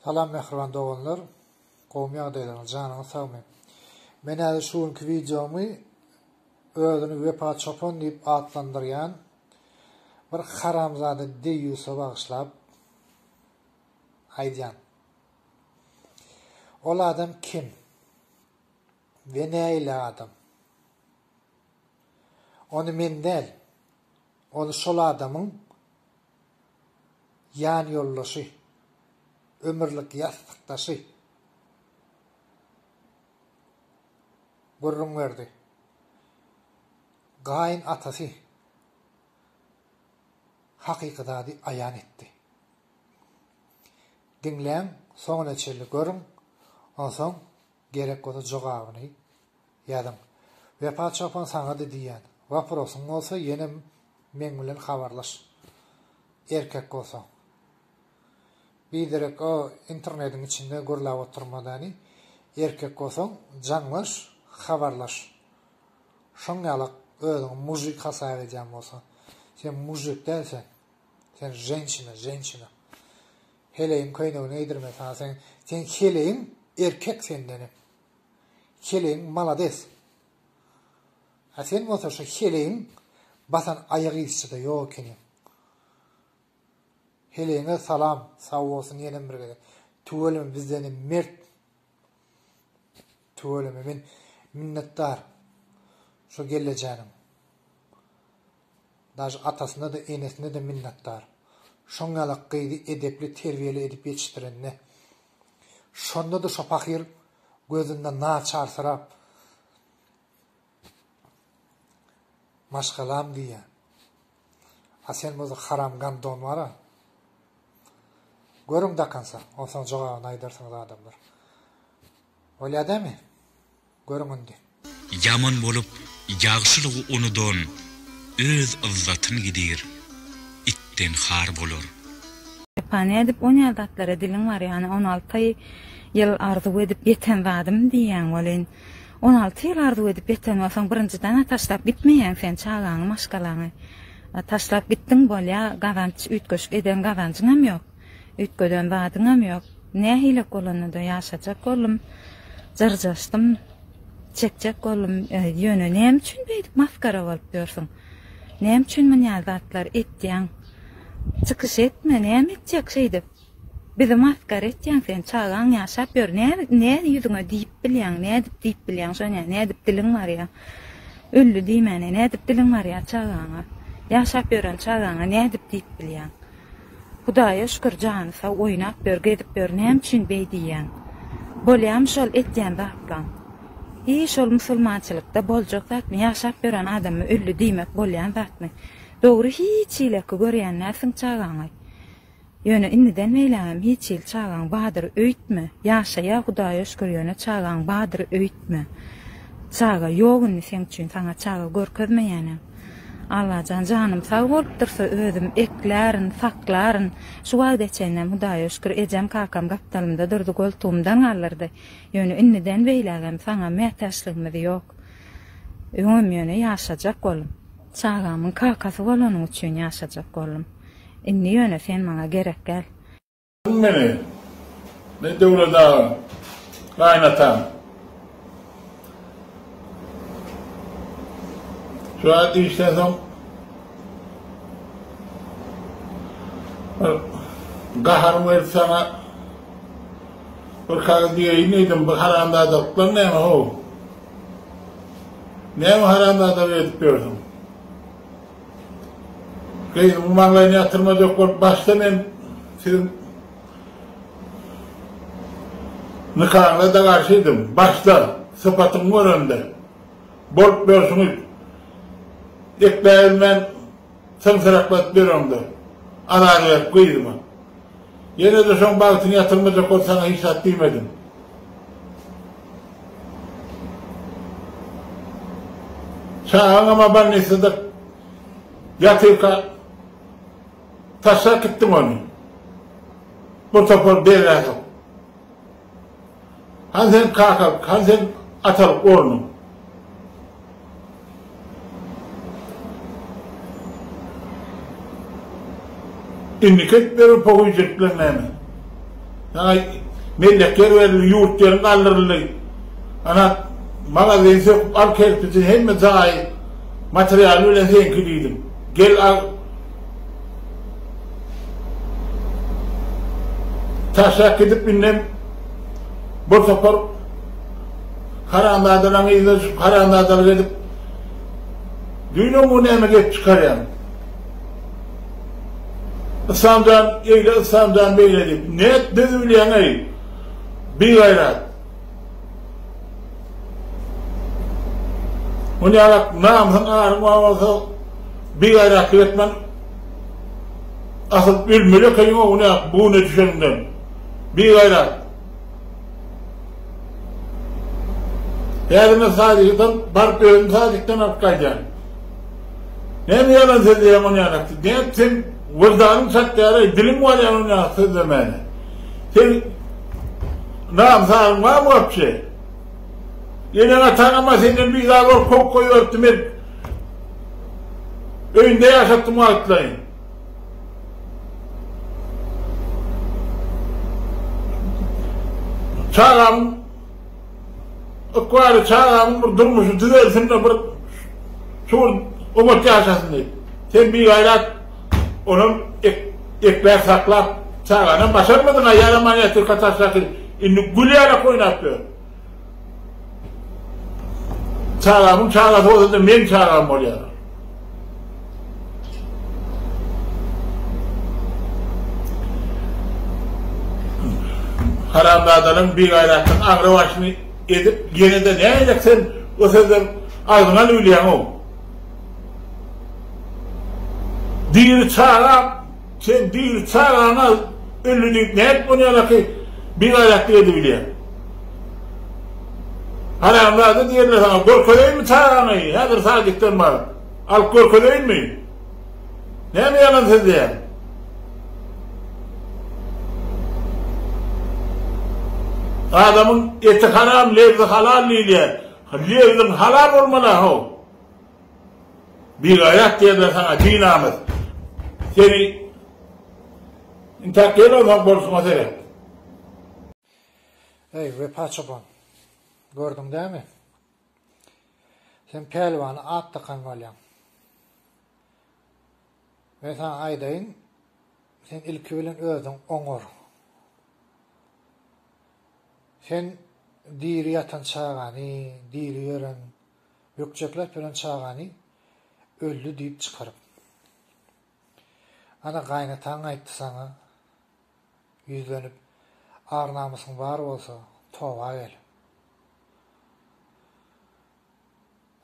Salam mähriban doganlar gowmy ýagdaýlaryňyz janyňyz sagmy men häzir şu günki wideomy özüni wepa çopan diýip atlandyrýan bir haramzada deýýusa bagyşlap aýdýan ol adam kim we näile adam ony men däl ony şol adamyň ýanýoldaşy, ömürlik ýassykdaşy gürrüň berdi. Gaýyn atasy hakyky zady aýan etdi. Diňläň, soňuna çenli görüň, onsoň Gerek bolsa jogabyny ýazyň. Wepa çopan saňa-da diýýän. Waprosyň bolsa ýene meň bilen habarlaş. Erkek bolsaň. Biderek o internediň içinde gürläp oturma däni. Erkek bolsaň jaňlaş, habarlaş. Şoň ýalak özüňi mužik hasap edýän bolsaň. Sen mužik däl sen. Sen ženşina, ženşina. Heleýiň köýnegini geýdirme saňa sen sen heleýiň erkek sendenem heleýiň malades a sen bolsa şu heleýiň basan aýak yzçyda ýok ekeniň heleýiňe salam sag bolsun ýenem bir gezek tüweleme bizdenem mert Tüweleme men minnetdar şo gellejäniň dažy atasyna-da enesine-de minnetdar. Şoň ýalak gyzy edepli terbiýeli edip ýetişdirenine. Şonda-da şo pahyr gözünde naçarsyrap Maşgalam diýýän. A sen bolsa haram gan don bara. Görüň dakansa, onsoň jogabyny aýdarsyňyz adamlar. Bolýa dämi? Görüň indi. Ýaman bolup ýagşylygy unudan öz yzzatyn gidir, itden har bolar. Epa nädip onýa zatlara diliň barýany on alty ýyl arzuw edip ýeten zadym diýýäň welin. On alty ýyl arzuw edip ýeten bolsaň, birinjiden-ä taşlap gitmeýäň sen çagaňy, maşgalaňy. Taşlap gitdiň, bolýar, gazanç, üýtgeşik eden gazanjyňam ýok, üýtgeden zadyňam ýok. Nähilek bolanda-da ýaşajak boldum, jyrjaşdym, çekjek boldum. Ýöne näme üçin beýdip masgara bolup ýörsüň? Näme üçin munýa zatlar etýäň? Çykyş etme, näme etjek şeýdip? Bizi masgara etýäň sen çagaň ýaşap ýör nädip nädip ýüzüňe diýip bilýäň nädip diýip bilýäň şoňa nädip diliň barýa öldi diýmäne nädip diliň barýa çagaňa ýaşap ýören çagaňa nädip diýip bilýäň Hudaýa şükür jany sag oýnap ýör gezip ýör näme üçin beý diýýäň bolýamy şol etýän zatlaň hi şol musulmançylykda boljak zatmy ýaşap ýören adama öldi diýmek bolýan zatmy dogry hiç hileki görýän dälsiň çagaňy Ýöne indiden beýlägem hiç hili çagaň badyr öýtme, ýaşaýa Hudaýa şükür ýöne çagaň badyr öýtme. Çaga ýok indi seň üçin saňa çaga görkezmeýänem. Allajan janym sag bolup dursa özüm eklärin, saklaryn. Şu wagta çenlem Hudaýa şükür ejem kakam gapdalymda durdy goltugymdan galdyrdy. Ýöne indiden beýlägem saňa mätäçligimiz ýok. Öňem ýöne ýaşajak oldum. Çagamyň kakasy bolanyň üçin ýaşajak oldum. Indi ýöne sen maňa gerek däl. Aň meni, men Döwlet aga, gaýynataň. Şu aýat işden soň bir gaharyň gelip saňa bir kagyz diýeýin diýdim, bu haramzadalyklaň näme how? Näme haramzadalyk edip ýörsüň? Gyzyňyň maňlaýyny ýatyrmaz ýok bolup başda men siziň nikaňyza-da garşydym. Başda, sypatyňy görende. Bolup ýörşüňiz. Ekläbilmän syňsyrakladyp ýöreňde. Azady berip gyzyma. Ýene-de şoň bagtyny ýatyrmajak bol, saňa hiç zat diýmedim. Çagaňam-a bolnisada ýatyrka taşlap gitdiň ony. Bir topar beýläk-ä. Hany seniň kakalyk, hany seniň atalyk ornuň? Indiki edip beren pohyjylyklaryň näme? Saňa mellekler berildi, ýurt ýeriň galdyryldy. Ana, magazin söküp al kerpiji, hemme jaýy, materialy bilen seniňki diýdim. Gel al, Taşlap gidip indem bir topar haramzadalaryň yzyna düşüp haramzadalyk edip Düýnem bu näme gep çykarýaň? Islamjan eýle Islamjan beýle diýip, net düz bilýäň-eý. Bigaýrat. Ol ýalak namysyň aryň babasyz bigaýratlyk etmen asyl ölmeli ekeň oňe bune düşeniňden bigaýrat häzir men sadikden baryp özüm sadikden alyp gaýdýan näme ýalan sözleýäň ol ýalak nätseň wyrdanyň çatýara diliň barýany ol ýalak sözlemäne. Seň nam sagyň barmy wapşe? Eneň-ataňam-a senden bizar bolup kowup goýberipdi, men öýünde ýaşatdym wagtlaýyn. Çagam ykbaly, çagamyň bir durmuşy düzelsin-de, bir şuňur oňat ýaşasyn diýip. Sen bigaýrat. Onam ekber saklap çaganam başarmadyň aýal amanyýet ýurka taşlaky indi gül ýalak oýnap ýör. Çagamyň çagasy bolsada meň çagam bolýar. Haramzadalaň bigaýratlyk aňry başyny edip ýenede näýjek sen o sözler agzyňa lüwlýäňow. Diri çaga Sen diri çagaňa ölli diýip nädip ony ýaňaky bigaýratlyk edibilýäň? Haramzada diýenler saňa görkezeýinmi çagaňy häzir sadikden baryp? Alyp görkezeýinmi? Näme ýalan sözleýäň? Adamyň eti haram lebzi halal diýilýär. Lebziň halal bolmaly-a how. Bigaýat diýerler saňa binamys. Seni intäk ýer almak bolşuňa seret. Eý, Wepa çopan. Gördüň dämi? Sen pälwana at dakan bolýaň. Men saňa aýdaýyn, sen ilki bilen özüň oňar. Sen diri ýatan çagany, diri ýören Bökjekler pelen çagany öldi diýip çykaryp. Ana gaýynataň aýtdy saňa ýüzlenip ar namysyň bar bolsa toba gel.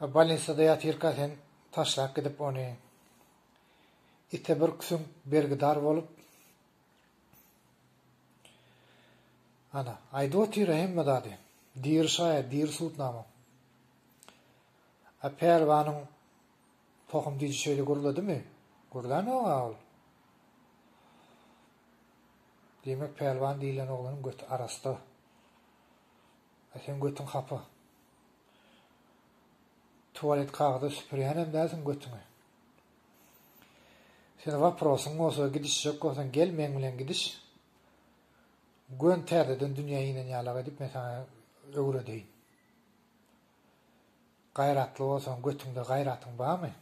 A bolnisada ýatyrka sen taşlap gidip ony ite bir süňk bergidar bolup Ana, aýdyp otyr-a hemme zady. Diri şaýat, diri sudnama. A Pälwanyň tohum diji şeýle gürledymi? Gürlänok-a ol. Diýmek, Pälwan diýlen oglanyň göti arassa. A seň götüň hapa. Tuwalet kagyza süpürýänem dälsiň götüňi. Sen waprosyň bolsa gidişjek bolsaň gel meň bilen gidiş. Gön täzeden dünýä inen ýalak edip men saňa öwredeýin. Gaýratly bolsaň götüňde gaýratyň barmy?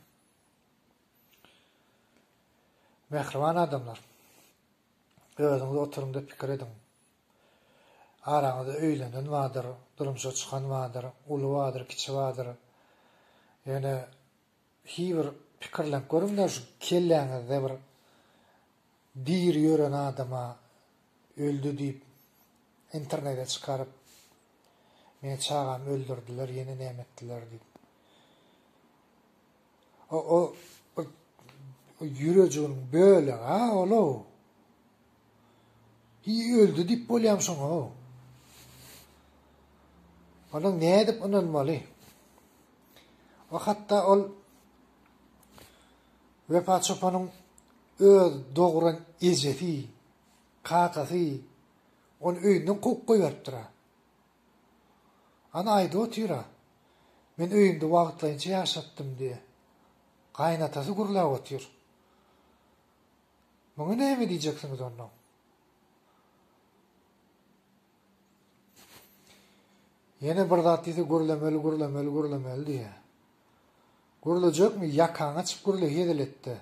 Mähriban adamlar. Özüňiz oturyňda pikir ediň. Araňyzda öýlenen bardyr, durmuşa çykan bardyr, uly bardyr, kiçi bardyr. Ýöne Hiý bir pikirlenip görüňdä şu kelläňizde bir diri ýören adama öldi diýip internede çykaryp meň çagamy öldürdiler ýene näme etdiler diýip o o bir ýürejiginiň bölegi-a ol-ow. Hiý öldi diýip bolýam şoňa-ow. Onuň nädip ynanmaly? We hatda ol Wepa çopanyň öz dogran ejesi, kakasy ony öýünden kowup goýberipdir-ä. Ana aýdyp otyr-a, Men öýümde wagtlaýynça ýaşapdym diýip, gaýynatasy gürläp otyr. Muňa näme diýjeksiňiz onda? Ýene bir zat diýse gürlemeli, gürlemeli, gürlemeli diýýär. Gürlejekmi? Ýakaňy açyp gürle hezeletde.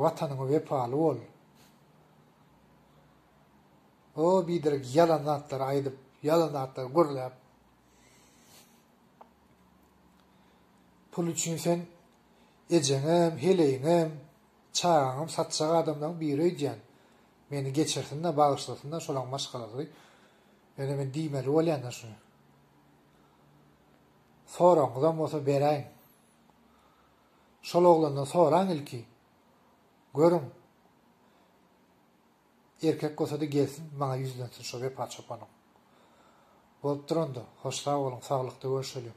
Watanyňa wepaly bol. O biderek ýalan zatlary aýdyp, ýalan zatlary gürläp. Pul üçin sen Ejeňem, heleýiňem, çagaňam satjak adamlaryň biri öýdýän. Meni geçirsin-de, bagyşlasyn-da, şolaň maşgalasy. Ýöne men diýmeli bolýan-da şuny. Soragyňyzam bolsa beräýiň. Şol oglandan soraň ilki. Görüň. Erkek bolsa-da gelsin, maňa ýüzlensin şo Wepa çopanyň. Bolupdyr onda. Hoş sag boluň, saglykda görşeliň.